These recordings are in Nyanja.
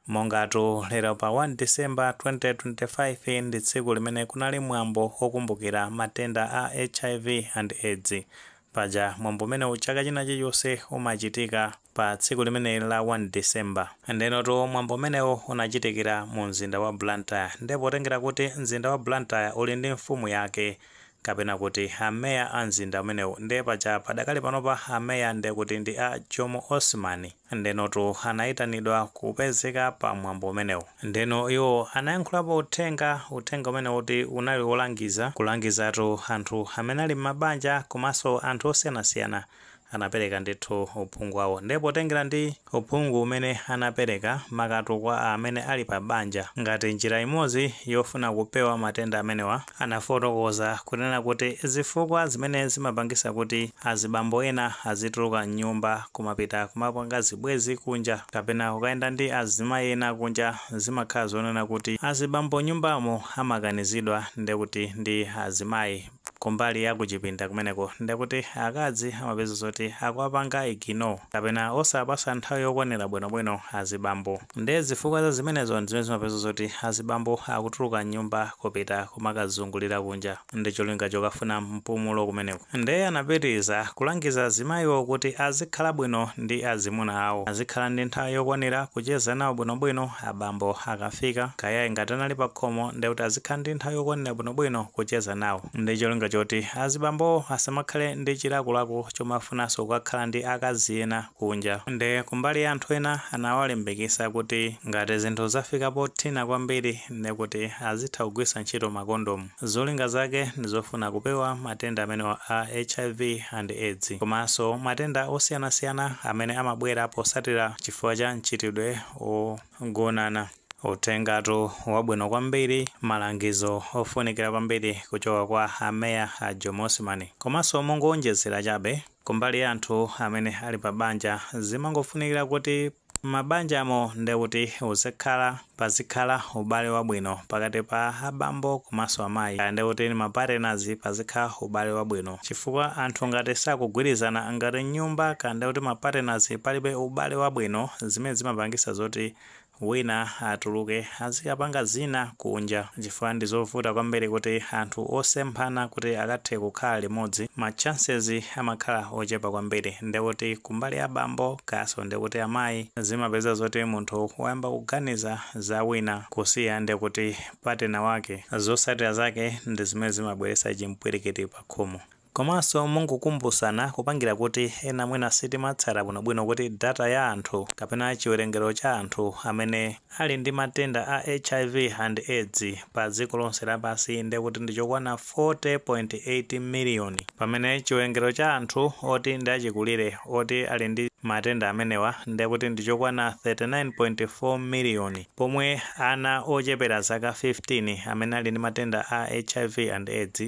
Mongatu lero pa 1 December 2025 ndi tsiku limene kunali mwambo wokumbukira matenda a HIV and AIDS, paja mwambo umenewu chaka china chilichonse umachitika pa tsiku limeneli la 1 December. Ndenotu mwambo umenewu unachitikira mu mzinda wa Blantyre nde potengera kuti mzinda wa Blantyre uli ndi mfumu yake kapena kuti a Mayor a mzinda umenewu nde paja padakali panopa a Mayor ndekuti ndi a Jomo Osman, Ndenotu anaitanidwa kupezeka pa mwambo umenewo. Ndeno iwo anayankhulapo uthenga, uthenga umene kuti unali wolangiza, kulangizatu anthu amene ali m'mabanja komanso anthu osiyanasiyana. Anapereka ndithu uphungu wawo. Ndiye potengera ndi uphungu umene anapereka, makatu kwa amene ali pa banja, ngati njira imodzi yofuna kupewa matenda amenewa, anafotokoza kunena kuti zifukwa zimene zimapangisa kuti azibambo ena azituluka mnyumba kumapita kumapanga zibwezi kunja kapena kukayenda ndi azimayi ena kunja zimakhala zonena kuti azibambo nyumbamo amakanizidwa ndekuti ndi azimayi kumbali ya kuchipinda kumeneko ndekuti akazi amapeza zoti akuwapanga ignore kapena osawapasa nthawi yokwanira bwino bwino azibambo. Ndiye zifukwa za zimenezo n'zimene zimapeza zoti azibambo akutuluka m'nyumba kupita kumakazungulira kunja ndi cholinga chokafuna mpumulo kumeneko. Ndiye anapitiriza kulangiza azimayiwo kuti azikhala bwino ndi azimuna awo, azikhala ndi nthawi yokwanira kucheza nawo bwinobwino abambo akafika, kaya ngati anali pakhomo ndiye kuti azikhala ndi nthawi yokwanira bwinobwino kucheza nawo ndi cholinga choti azibambowo asamakhale ndi chilakolako chomafunanso kukakhala ndi akazi ena. kunja. Nde kumbali ya anthu ena anawalimbikisa kuti ngati zinthu zafika pothina kwambiri nde kuti azitha kugwiritsa ntchito makondomu. Zolinga zake ndizofuna kupewa matenda amenewa a HIV and AIDS komanso matenda osiyanasiyana amene amabwera posatira chifukwa cha mchitidwe ogonana. Uthengatu wabwino kwambiri, malangizo ofunikira kwambiri kuchoka kwa a Mayor a Jomo Osman. Komanso mongoonjezera chabe, Kumbali ya anthu amene ali pa banja, zimangofunikira kuti m'mabanjamo nde kuti uzikhala, pazikhala ubale wabwino pakati pa a bambo komanso amayi kaya nde kuti ma partners pazikhala ubale wabwino chifukwa anthu ngati sakugwirizana ngati m'nyumba kaya nde kuti ma partners palibe ubale wabwino zimene zimapangisa zoti wina atuluke azikapanga zina kunja chifukwa ndizovuta kwambiri kuti anthu osemphana kuti akathe kukhala limodzi ma chances amakhala ochepa kwambiri ndekuti kumbali ya bambo kayaso ndikuti amayi zimapeza zoti munthu wayamba kuganiza za wina kusiya ndekuti partner wake zosatira zake ndizimene zimabweresa chimpwirikiti pakhomo. Komanso mongokumbutsana kupangira kuti ena mwina sitimatsata bwinobwino kuti data ya anthu kapena chiwerengero cha anthu amene Ali ndi matenda a hiv and AIDS pa dziko lonse lapansi ndekuti ndichokwana 40.8 million pamene chiwerengero cha anthu oti ndi achikulire oti Ali ndi matenda amenewa ndekuti ndichokwana 39.4 million pomwe ana ochepera zaka 15 amene ali ndi matenda a hiv and AIDS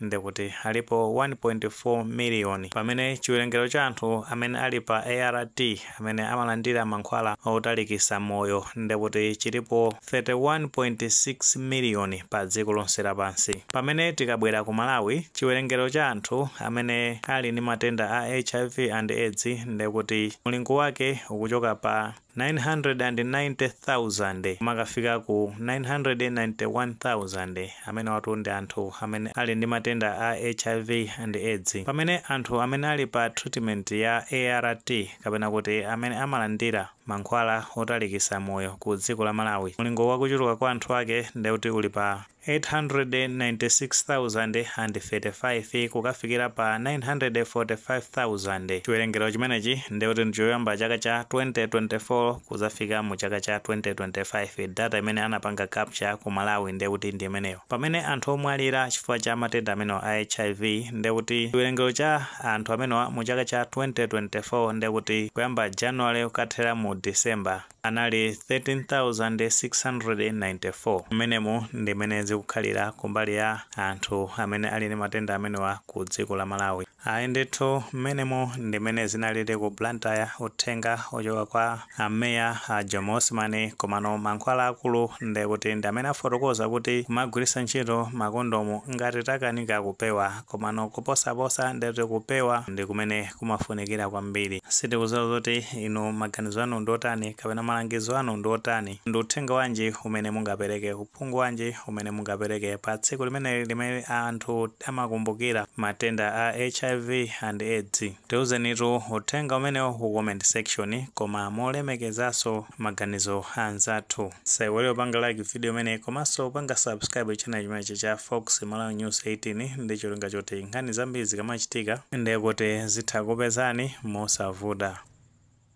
ndekuti alipo 1.4 miliyoni, pamene chiwerengero cha anthu amene ali pa ART, amene amalandira mankhwala otalikisa moyo, ndekuti chilipo 31.6 miliyoni pa dziko lonse lapansi. Pamene tikabwera ku Malawi, chiwerengero cha anthu amene ali ndi matenda a hiv and AIDS ndekuti mulingo wake ukuchoka pa. 990,000 kumakafika ku 991,000 amenewatu ndi anthu amene ali ndi matenda a hiv and AIDS pamene anthu amene ali pa treatment ya ART kapena kuti amene amalandira mankhwala otalikisa moyo ku dziko la Malawi mulingo wa kuchuluka kwa anthu ake ndekuti uli pa 896,035 kukafikira pa 945,000. Chiwerengero chimenechi ndiye kuti ndichoyamba chaka cha 2024 kuzafika mu chaka cha 2025. Data imene anapanga capture ku Malawi ndiye kuti ndi imeneyo. Pamene anthu omwalira chifukwa cha matenda amenewa a HIV ndiye kuti chiwerengero cha anthu amenewa mu chaka cha 2024 ndiye kuti kuyamba January kukathera mu December, anali 13,694. Mmenemu ndi mmene zikukhalira kumbali ya anthu amene ali ndi matenda amenewa ku dziko la Malawi. Ayi ndithu mmenemu ndi mmene zinalili ku Blantyre uthenga ochoka kwa a meya a Jomo Osman komano mankhwala akulu ndekuti ndi amene afotokoza kuti kumagwiritsa ntchito makondomu ngati takanika kupewa Komano kuposaposa ndiye kuti kupewa ndi kumene kumafunikira kwambiri. Sitikudziwa kuti inu maganizo anu ndi otani kapena malangizo anu ndi otani. Ndi uthenga wanji umene mungapereke, uphungu wanji umene mungapereke pa tsiku limeneli limene anthu amakumbukira matenda a HIV and AIDS? Tiuzenitu uthenga umenewo ku comment section koma molemekezanso. maganizo a anzathu. Osaiwala kupanga like video imeneyi komanso kupanga subscribe channel chimenechi cha Fox Malawi News 18 ndi cholinga choti nkhani zambiri zikamachitika ndiye kuti zitha kupezani mosavuta.